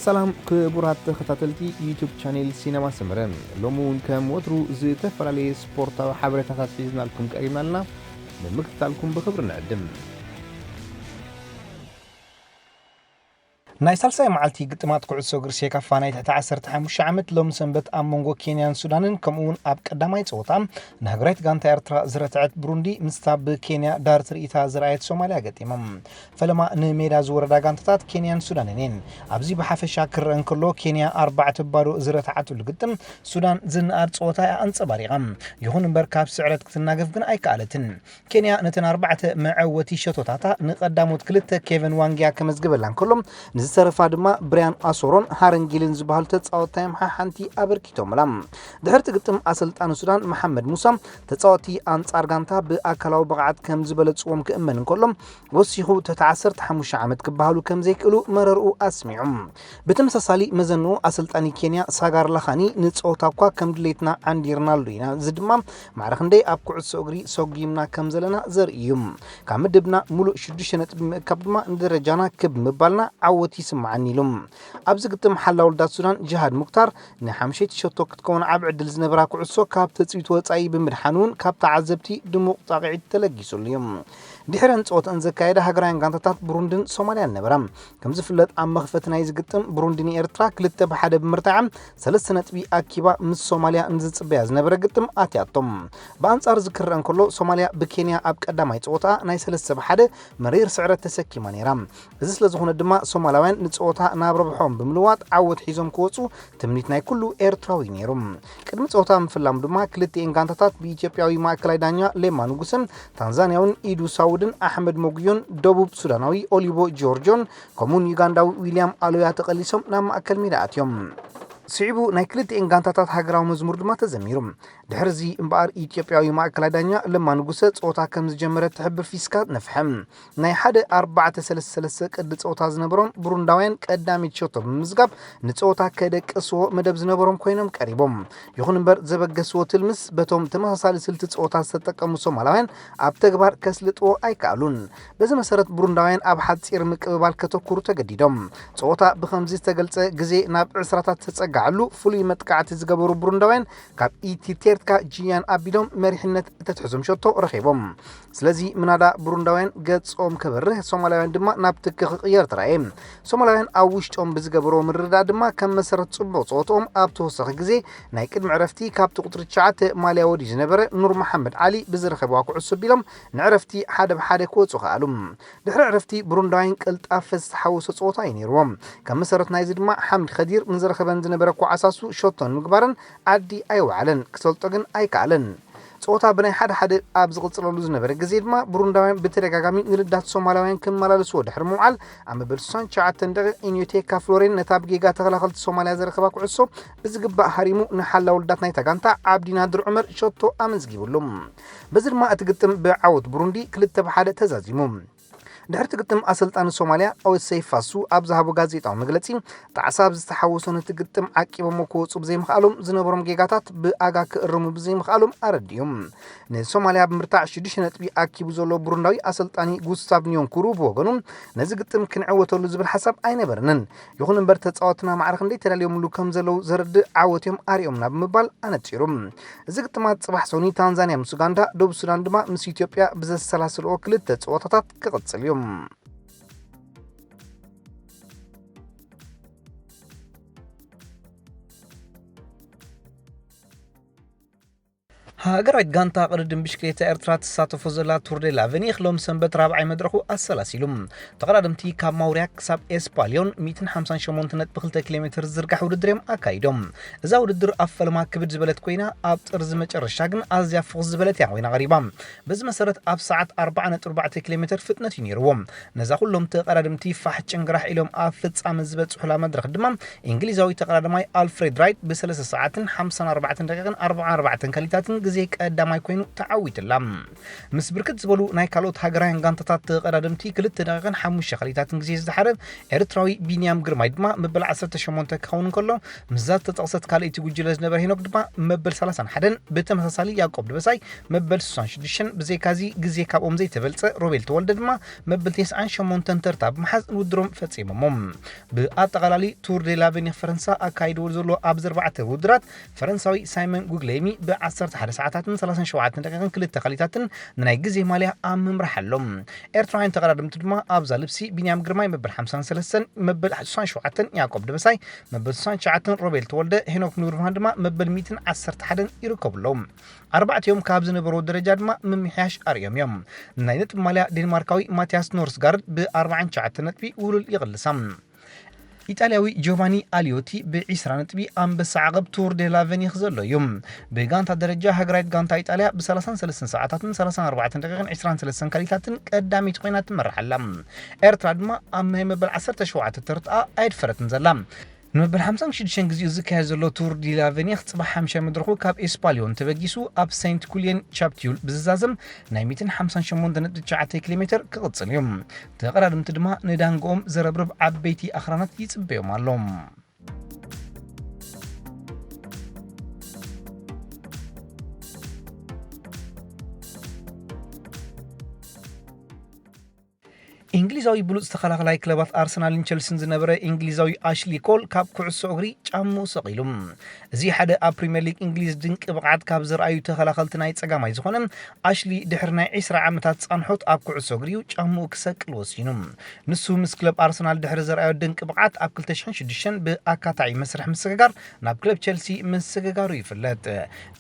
ሰላም ክቡራት ተኸታተልቲ ዩቱብ ቻኔል ሲነማ ሰመረ ሎሚ እውን ከም ወትሩ ዝተፈላለየ ስፖርታዊ ሓበሬታታት ሒዝናልኩም ቀሪብና ኣለና ንምክትታልኩም ብክብሪ ንዕድም ናይ ሳልሳይ መዓልቲ ግጥማት ኩዕሶ እግሪ ሴካፋ ናይ ትሕቲ 15 ዓመት ሎሚ ሰንበት ኣብ መንጎ ኬንያን ሱዳንን ከምኡውን ኣብ ቀዳማይ ፀወታ ንሃገራዊት ጋንታ ኤርትራ ዝረትዐት ብሩንዲ ምስታ ብኬንያ ዳር ትርኢታ ዝረኣየት ሶማልያ ገጢሞም ፈለማ ንሜዳ ዝወረዳ ጋንታታት ኬንያን ሱዳንን እየን። ኣብዚ ብሓፈሻ ክረኣ እንከሎ ኬንያ ኣርባዕተ ባዶ ዝረትዓትሉ ግጥም፣ ሱዳን ዝነኣድ ጸወታ እያ ኣንጸባሪቓ። ይኹን እምበር ካብ ስዕረት ክትናገፍ ግን ኣይከኣለትን። ኬንያ ነተን ኣርባዕተ መዐወቲ ሸቶታታ ንቀዳሞት ክልተ ኬቨን ዋንግያ ከመዝግበላ እንከሎ ንዝተረፋ ድማ ብርያን ኣሶሮን ሃረን ጊልን ዝበሃሉ ተጻወትታ እዮም ሓሓንቲ ኣበርኪቶምላ። ድሕሪ'ቲ ግጥም ኣሰልጣኒ ሱዳን መሓመድ ሙሳ ተጻወትቲ ኣንጻር ጋንታ ብኣካላዊ ብቕዓት ከምዝበለጽዎም ክእመን እንከሎ ወሲኹ ትሕቲ ዓሰርተ ሓሙሽተ ዓመት ክበሃሉ ከምዘይክእሉ መረርኡ ኣስሚዑ። ብተመሳሳሊ መዘንኡ ኣሰልጣኒ ኬንያ ሳጋር ላኻኒ ንጸወታ እኳ ከም ድሌትና ዓንዲርናሉ ኢና፣ እዚ ድማ ማዕረ ክንደይ ኣብ ኩዕሶ እግሪ ሰጒምና ከምዘለና ዘርኢ እዩ። ካብ ምድብና ምሉእ ሽዱሽተ ነጥቢ ብምእካብ ድማ ንደረጃና ክብ ምባልና ዓወት ይስመዓኒ ኢሉ። ኣብዚ ግጥም ሓላውልዳት ሱዳን ጂሃድ ሙክታር ንሓምሸይቲ ሸቶ ክትከውን ዓቢ ዕድል ዝነበራ ኩዕሶ ካብ ትጽቢት ወጻኢ ብምድሓን'ውን ካብ ተዓዘብቲ ድሙቕ ጻቕዒት ተለጊሱሉ እዩ። ድሕረን ጸወተኣን ዘካየዳ ሃገራውያን ጋንታታት ብሩንድን ሶማልያን ነበራ። ከም ዝፍለጥ ኣብ መኽፈቲ ናይዚ ግጥም ብሩንዲ ንኤርትራ ክልተ ብሓደ ብምርታዓ ሰለስተ ነጥቢ ኣኪባ ምስ ሶማልያ ንዝጽበያ ዝነበረ ግጥም ኣትያቶም። ብኣንጻር እዚ ክረኣ እንከሎ ሶማልያ ብኬንያ ኣብ ቀዳማይ ጸወታኣ ናይ ሰለስተ ብሓደ መሪር ስዕረት ተሰኪማ ነይራ። እዚ ስለ ዝኹነ ድማ ሶማላውያን ንጸወታ ናብ ረብሖኦም ብምልዋጥ ዓወት ሒዞም ክወጹ ትምኒት ናይ ኩሉ ኤርትራዊ ነይሩ። ቅድሚ ጸወታ ምፍላሙ ድማ ክልቲኤን ጋንታታት ብኢትዮጵያዊ ማእከላይ ዳኛ ሌማ ንጉሰን ታንዛንያውን ኢዱ ሳውድን ኣሕመድ ሞጉዮን ደቡብ ሱዳናዊ ኦሊቮ ጂዮርጆን ከምኡውን ዩጋንዳዊ ዊልያም ኣሎያ ተቐሊሶም ናብ ማእከል ሜዳ ኣትዮም። ስዒቡ ናይ ክልቲኤን ጋንታታት ሃገራዊ መዝሙር ድማ ተዘሚሩ። ድሕርዚ እምበኣር ኢትዮጵያዊ ማእከላይ ዳኛ ለማ ንጉሰ ጸወታ ከም ዝጀመረ ትሕብር ፊስካ ነፍሐ። ናይ ሓደ ኣርባዕተ ሰለስተ ሰለስተ ቅዲ ጸወታ ዝነበሮም ብሩንዳውያን ቀዳሚት ሸቶ ብምምዝጋብ ንጸወታ ከደቅስዎ መደብ ዝነበሮም ኮይኖም ቀሪቦም። ይኹን እምበር ዘበገስዎ ትልምስ በቶም ተመሳሳሊ ስልቲ ጸወታ ዝተጠቀሙ ሶማላውያን ኣብ ተግባር ከስልጥዎ ኣይከኣሉን። በዚ መሰረት ብሩንዳውያን ኣብ ሓጺር ምቅብባል ከተኩሩ ተገዲዶም። ጸወታ ብኸምዚ ዝተገልጸ ግዜ ናብ ዕስራታት ዝተጸጋዐሉ ፍሉይ መጥቃዕቲ ዝገበሩ ብሩንዳውያን ካብ ኢቲቴርትካ ጂያን ኣቢሎም መሪሕነት እተትሕዞም ሸቶ ረኺቦም። ስለዚ ምናዳ ብሩንዳውያን ገጾም ከበርህ ሶማላውያን ድማ ናብ ትኪ ክቕየር ተራእየ ሶማላውያን ኣብ ውሽጦም ብዝገበሮ ምርዳእ ድማ ከም መሰረት ጽቡቕ ጸወትኦም ኣብ ተወሳኺ ግዜ ናይ ቅድሚ ዕረፍቲ ካብቲ ቁጽሪ 9 ማልያ ወዲ ዝነበረ ኑር መሓመድ ዓሊ ብዝረኸብዋ ኩዕሶ ቢሎም ንዕረፍቲ ሓደ ብሓደ ክወጹ ከኣሉ ድሕሪ ዕረፍቲ ብሩንዳውያን ቅልጣፈ ዝተሓወሶ ጸወታ እዩ ነይርዎም ከም መሰረት ናይዚ ድማ ሓምድ ከዲር ንዝረኸበን ዝነበረ ኳዓሳሱ ሸቶ ንምግባረን ዓዲ ኣይወዓለን ክሰልጦ ግን ኣይከኣለን ጸወታ ብናይ ሓደ ሓደ ኣብ ዝቕጽለሉ ዝነበረ ግዜ ድማ ብሩንዳውያን ብተደጋጋሚ ንርዳት ሶማላውያን ክመላለስዎ ድሕሪ ምውዓል ኣብ መበል 69 ደቒቕ ኢንዮቴካ ፍሎሬን ነታ ብጌጋ ተኸላኸልቲ ሶማልያ ዘረከባ ኩዕሶ ብዝግባእ ሃሪሙ ንሓላው ልዳት ናይታ ጋንታ ዓብዲ ናድር ዑመር ሸቶ ኣመዝጊብሉ። በዚ ድማ እቲ ግጥም ብዓወት ብሩንዲ ክልተ ብ ሓደ ተዛዚሙ። ድሕሪ እቲ ግጥም ኣሰልጣኒ ሶማልያ ኦዌስ ሰይፍ ፋሱ ኣብ ዝሃቦ ጋዜጣዊ መግለጺ ጣዕሳ ኣብ ዝተሓወሶ ነቲ ግጥም ዓቂቦሞ ክወጹ ብዘይምኽኣሎም ዝነበሮም ጌጋታት ብኣጋ ክእርሙ ብዘይምኽኣሎም ኣረዲኡ። ንሶማልያ ብምርታዕ ሽዱሽተ ነጥቢ ኣኪቡ ዘሎ ብሩንዳዊ ኣሰልጣኒ ጉስታቭ ኒዮንኩሩ ብወገኑ ነዚ ግጥም ክንዕወተሉ ዝብል ሓሳብ ኣይነበረንን። ይኹን እምበር ተፃወትና ማዕረ ክንደይ ተዳልዮምሉ ከም ዘለዉ ዘረድእ ዓወት እዮም ኣርእዮምና ብምባል ኣነፂሩ። እዚ ግጥማት ፅባሕ ሰኑይ ታንዛንያ ምስ ኡጋንዳ፣ ደቡብ ሱዳን ድማ ምስ ኢትዮጵያ ብዘሰላስልኦ ክልተ ፀወታታት ክቕፅል እዩ። ሃገራዊት ጋንታ ቅድድም ብሽክሌታ ኤርትራ ትሳተፎ ዘላ ቱር ዴ ላቨኒክ ሎም ሰንበት ራብዓይ መድረኹ ኣሰላሲሉ። ተቐዳድምቲ ካብ ማውርያ ክሳብ ኤስፓልዮን 158 ነጥቢ 2 ኪሎ ሜተር ዝዝርጋሕ ውድድር እዮም ኣካይዶም። እዛ ውድድር ኣብ ፈለማ ክብድ ዝበለት ኮይና ኣብ ጥርዚ መጨረሻ ግን ኣዝያ ፍኹስ ዝበለት እያ ኮይና ቀሪባ። በዚ መሰረት ኣብ ሰዓት ኣርባዓ ነጥቢ ኣርባዕተ ኪሎሜተር ፍጥነት እዩ ነይርዎም። ነዛ ኩሎም ተቐዳደምቲ ፋሕ ጭንግራሕ ኢሎም ኣብ ፍጻመ ዝበጽሑላ መድረኽ ድማ ኢንግሊዛዊ ተቐዳዳማይ ኣልፍሬድ ራይት ብሰለስተ ሰዓትን ሓምሳን ኣርባዕተን ደቒቕን ኣርብዓን ኣርባዕተን ከሊታትን ግዜ ቀዳማይ ኮይኑ ተዓዊቱላ። ምስ ብርክት ዝበሉ ናይ ካልኦት ሃገራውያን ጋንታታት ተቐዳደምቲ ክልተ ደቒቕን ሓሙሽተ ከሊታትን ግዜ ዝደሓረ ኤርትራዊ ቢንያም ግርማይ ድማ መበል ዓሰርተ ሸሞንተ ክኸውን እንከሎ ምስዛ ዝተጠቕሰት ካልኣይቲ ጉጅለ ዝነበረ ሄኖክ ድማ መበል ሰላሳን ሓደን ብተመሳሳሊ ያቆብ ደበሳይ መበል ስሳን ሽዱሽተን ብዘይካ'ዚ ግዜ ካብኦም ዘይተበልጸ ሮቤል ተወልደ ድማ መበል ቴስዓን ሸሞንተን ተርታ ብምሓዝ ንውድሮም ፈጺሞሞ። ብኣጠቓላሊ ቱር ዴ ላቨኒር ፈረንሳ ኣካይድዎ ዘሎ ኣብዚ ኣርባዕተ ውድድራት ፈረንሳዊ ሳይመን ጉግሌይሚ ብ ዓሰርተ ሓደ ሰዓታትን ሰላሳን ሸውዓተን ደቂቕን ክልተ ካሊታትን ንናይ ግዜ ማልያ ኣብ ምምራሕ ኣሎ። ኤርትራውያን ተቐዳደምቲ ድማ ኣብዛ ልብሲ ቢንያም ግርማይ መበል ሓምሳን ሰለስተን መበል ስሳን ሸውዓተን ያቆብ ደበሳይ መበል ስሳን ትሽዓተን ሮቤል ተወልደ ሄኖክ ኑርብርሃን ድማ መበል ሚእትን ዓሰርተ ሓደን ይርከቡሎም። ኣርባዕቲኦም ካብ ዝነበርዎ ደረጃ ድማ ምምሕያሽ ኣርእዮም እዮም። ናይ ነጥቢ ማልያ ዴንማርካዊ ማቲያስ ኖርስጋርድ ብ ኣርብዓን ትሽዓተን ነጥቢ ውህሉል ይቕልሳ። ኢጣልያዊ ጆቫኒ ኣልዮቲ ብ ዒስራ ነጥቢ ኣንበሳ ዓቐብ ቱር ዴ ላ ቨኒኽ ዘሎ እዩ። ብ ጋንታ ደረጃ ሃገራዊት ጋንታ ኢጣልያ ብ ሰላሳን ሰለስተን ሰዓታትን ሰላሳን ኣርባዕተን ደቒቕን ዕስራን ሰለስተን ካሊታትን ቀዳመይቲ ኮይና ትመርሕ ኣላ። ኤርትራ ድማ ኣብ ናይ መበል ዓሰርተ ሸውዓተ ተርትኣ ኣየድፈረትን ዘላ። ንመበል ሓምሳን ሽዱሽተን ግዜኡ ዝካየድ ዘሎ ቱር ዲ ላ ቨኒኽ ጽባሕ ሓምሻይ መድረኹ ካብ ኤስፓልዮን ተበጊሱ ኣብ ሰይንት ኩልየን ቻፕትዩል ብዝዛዘም ናይ ሚእትን ሓምሳን ሸሞንተ ነጥቢ ትሽዓተ ኪሎ ሜተር ክቕጽል እዩ። ተቐዳድምቲ ድማ ንዳንግኦም ዘረብርብ ዓበይቲ ኣኽራናት ይጽበዮም ኣሎ። ኢንግሊዛዊ ብሉጽ ተኸላኸላይ ክለባት ኣርሰናልን ቸልሲን ዝነበረ ኢንግሊዛዊ ኣሽሊ ኮል ካብ ኩዕሶ እግሪ ጫምኡ ሰቒሉ። እዚ ሓደ ኣብ ፕሪምየር ሊግ እንግሊዝ ድንቂ ብቕዓት ካብ ዘርኣዩ ተኸላኸልቲ ናይ ጸጋማይ ዝኾነ ኣሽሊ ድሕሪ ናይ ዕስራ ዓመታት ጻንሖት ኣብ ኩዕሶ እግሪ'ዩ ጫምኡ ክሰቅል ወሲኑ። ንሱ ምስ ክለብ ኣርሰናል ድሕሪ ዘርኣዮ ድንቂ ብቕዓት ኣብ ክልተ ሽሕን ሽዱሽተን ብኣካታዒ መስርሕ ምስግጋር ናብ ክለብ ቸልሲ ምስግጋሩ ይፍለጥ።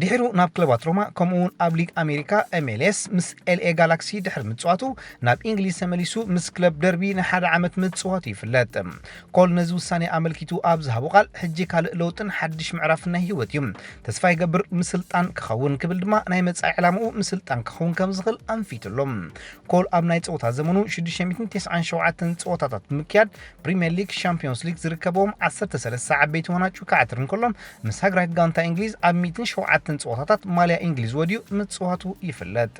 ድሒሩ ናብ ክለባት ሮማ ከምኡ'ውን ኣብ ሊግ ኣሜሪካ፣ MLS፣ ምስ ኤልኤ ጋላክሲ ድሕሪ ምጽዋቱ ናብ ኢንግሊዝ ተመሊሱ ምስ ክለብ ደርቢ ንሓደ ዓመት ምጽዋቱ ይፍለጥ። ኮል ነዚ ውሳኔ ኣመልኪቱ ኣብ ዝሃቦ ቃል፣ ሕጂ ካልእ ለውጥን ሓድሽ ምዕራፍን ናይ ህይወት እዩ። ተስፋ ይገብር ምስልጣን ክኸውን፣ ክብል ድማ ናይ መጻኢ ዕላማኡ ምስልጣን ክኸውን ከም ዝኽእል ኣንፊቱ ኣሎ። ኮል ኣብ ናይ ጸወታ ዘመኑ ሽዱሽተ ሚእትን ተስዓን ሸውዓተን ጸወታታት ብምክያድ ፕሪምየር ሊግ፣ ሻምፕዮንስ ሊግ ዝርከብዎም ዓሰርተ ሰለስተ ዓበይቲ ዋናጩ ክዓትር እንከሎ፣ ምስ ሃገራዊት ጋንታ እንግሊዝ ኣብ ሚእትን ሸውዓተን ጸወታታት ማልያ እንግሊዝ ወድዩ ምጽዋቱ ይፍለጥ።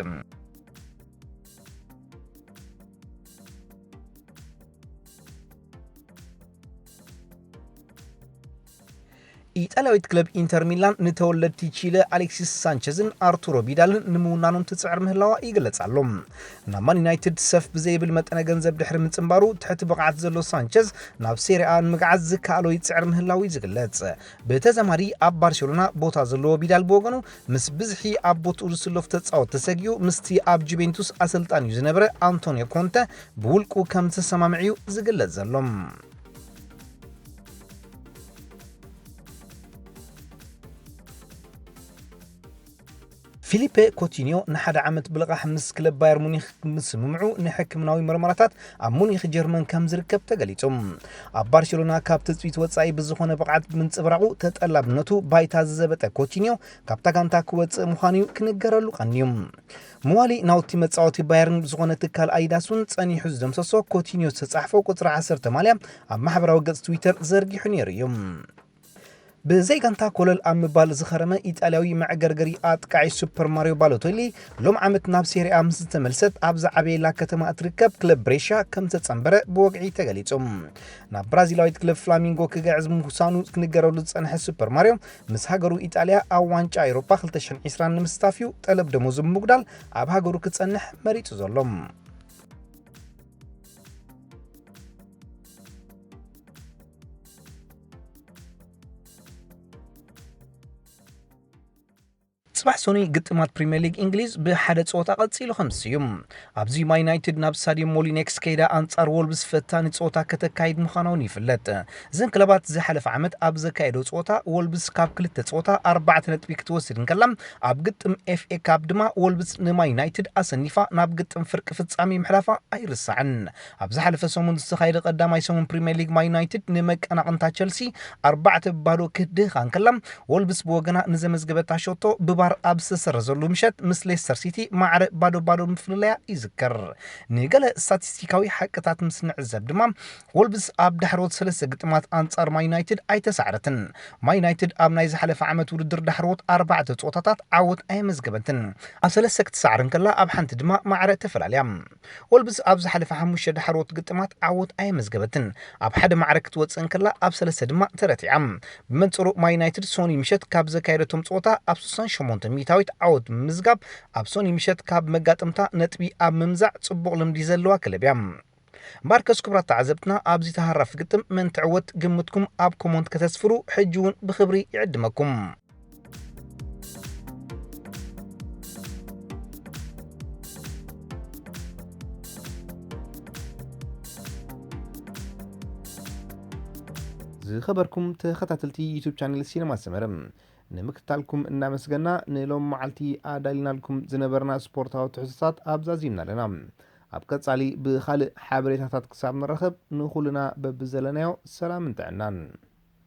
ኢጣልያዊት ክለብ ኢንተር ሚላን ንተወለድቲ ቺለ ኣሌክሲስ ሳንቸዝን ኣርቱሮ ቢዳልን ንምውናኖም ትጽዕር ምህላዋ ይግለጽ ኣሎ። ናብ ማን ዩናይትድ ሰፍ ብዘይብል መጠነ ገንዘብ ድሕሪ ምጽንባሩ ትሕቲ ብቕዓት ዘሎ ሳንቸዝ ናብ ሴሪኣ ንምግዓዝ ዝከኣሎ ይጽዕር ምህላዉ እዩ ዝግለጽ። ብተዛማዲ ኣብ ባርሴሎና ቦታ ዘለዎ ቢዳል ብወገኑ ምስ ብዝሒ ኣብ ቦትኡ ዝስለፉ ተጻወትቲ ሰጊኡ ምስቲ ኣብ ጁቬንቱስ ኣሰልጣኒኡ ዝነበረ ኣንቶንዮ ኮንተ ብውልቁ ከምዝተሰማምዕ'ዩ ዝግለጽ ዘሎ። ፊሊፔ ኮቲንዮ ንሓደ ዓመት ብልቓሕ ምስ ክለብ ባየር ሙኒክ ምስምምዑ ንሕክምናዊ መርመራታት ኣብ ሙኒክ ጀርመን ከም ዝርከብ ተገሊጹ ኣብ ባርሴሎና ካብ ትፅቢት ወፃኢ ብዝኾነ ብቕዓት ብምንፅብራቑ ተጠላብነቱ ባይታ ዝዘበጠ ኮቲንዮ ካብታ ጋንታ ክወፅእ ምዃኑ እዩ ክንገረሉ ቀንዩ መዋሊ ናውቲ መጻወቲ ባየርን ብዝኾነ ትካል ኣዲዳስ'ውን ጸኒሑ ዝደምሰሶ ኮቲንዮ ዝተጻሕፎ ቁጽሪ ዓሰርተ ማልያ ኣብ ማሕበራዊ ገጽ ትዊተር ዘርጊሑ ነይሩ እዩ። ብዘይ ጋንታ ኮለል ኣብ ምባል ዝኸረመ ኢጣልያዊ መዕገርገሪ ኣጥቃዒ ሱፐር ማርዮ ባሎቶሊ ሎም ዓመት ናብ ሴሪኣ ምስ ዝተመልሰት ኣብ ዝዓበየላ ከተማ እትርከብ ክለብ ብሬሻ ከም ዝተጸንበረ ብወግዒ ተገሊጹ። ናብ ብራዚላዊት ክለብ ፍላሚንጎ ክግዕዝ ምውሳኑ ክንገረሉ ዝጸንሐ ሱፐር ማርዮ ምስ ሃገሩ ኢጣልያ ኣብ ዋንጫ ኤውሮጳ ክልተ ሽሕን ዒስራን ንምስታፍ'ዩ ጠለብ ደሞዙ ብምጉዳል ኣብ ሃገሩ ክጸንሕ መሪጹ ዘሎ። ጽባሕ ሰኑይ ግጥማት ፕሪምየር ሊግ እንግሊዝ ብሓደ ጸወታ ቀጺሉ ከም ዝስዩም ኣብዚ ማ ዩናይትድ ናብ ስታዲየም ሞሊኔክስ ከይዳ ኣንጻር ወልብስ ፈታኒ ጸወታ ከተካይድ ምዃና እውን ይፍለጥ። እዘን ክለባት ዝሓለፈ ዓመት ኣብ ዘካየደኦ ጸወታ ወልብስ ካብ ክልተ ጸወታ ኣርባዕተ ነጥቢ ክትወስድ እንከላ ኣብ ግጥም ኤፍኤ ካፕ ድማ ወልብስ ንማ ዩናይትድ ኣሰኒፋ ናብ ግጥም ፍርቂ ፍጻሜ ምሕላፋ ኣይርሳዕን። ኣብ ዝሓለፈ ሰሙን ዝተኻየደ ቀዳማይ ሰሙን ፕሪምየር ሊግ ማይ ዩናይትድ ንመቀናቕንታ ቸልሲ ኣርባዕተ ብባዶ ክትድህኻ እንከላ ወልቭስ ብወገና ንዘመዝገበታ ሸቶ ብቫር ኣብ ዝተሰረዘሉ ምሸት ምስ ሌስተር ሲቲ ማዕረ ባዶ ባዶ ምፍልላያ ይዝከር። ንገለ ስታቲስቲካዊ ሓቅታት ምስ ንዕዘብ ድማ ወልቭስ ኣብ ዳሕረዎት ሰለስተ ግጥማት ኣንጻር ማይ ዩናይትድ ኣይተሳዕረትን። ማይ ዩናይትድ ኣብ ናይ ዝሓለፈ ዓመት ውድድር ዳሕረዎት ኣርባዕተ ጸወታታት ዓወት ኣየመዝገበትን። ኣብ ሰለስተ ክትሳዕር እንከላ ኣብ ሓንቲ ድማ ማዕረ ተፈላልያ። ወልብስ ኣብ ዝሓለፈ ሓሙሽተ ዳሕረዎት ግጥማት ዓወት ኣየመዝገበትን፣ ኣብ ሓደ ማዕረ ክትወጽእ እንከላ ኣብ ሰለስተ ድማ ተረቲዓ። ብመንጽሩ ማይ ዩናይትድ ሶኑይ ምሸት ካብ ዘካየደቶም ጸወታ ኣብ ስሳን ሸሞንተን ሚእታዊት ዓወት ብምምዝጋብ ኣብ ሶኑይ ምሸት ካብ መጋጥምታ ነጥቢ ኣብ ምምዛዕ ጽቡቕ ልምዲ ዘለዋ ክለብ እያ። እምበኣርከስ ክቡራት ተዓዘብትና ኣብዚ ተሃራፊ ግጥም መን ትዕወት ግምትኩም ኣብ ኮሞንት ከተስፍሩ ሕጂ'ውን ብኽብሪ ይዕድመኩም። ዝኸበርኩም ተኸታተልቲ ዩቱብ ቻነል ሲነማ ሰመረ ንምክትታልኩም እናመስገና ንሎም መዓልቲ ኣዳሊናልኩም ዝነበርና ስፖርታዊ ትሕዝቶታት ኣብዛዚምና ኣለና ኣብ ቀጻሊ ብኻልእ ሓበሬታታት ክሳብ ንራኸብ ንኹልና በብዘለናዮ ሰላምን ጥዕናን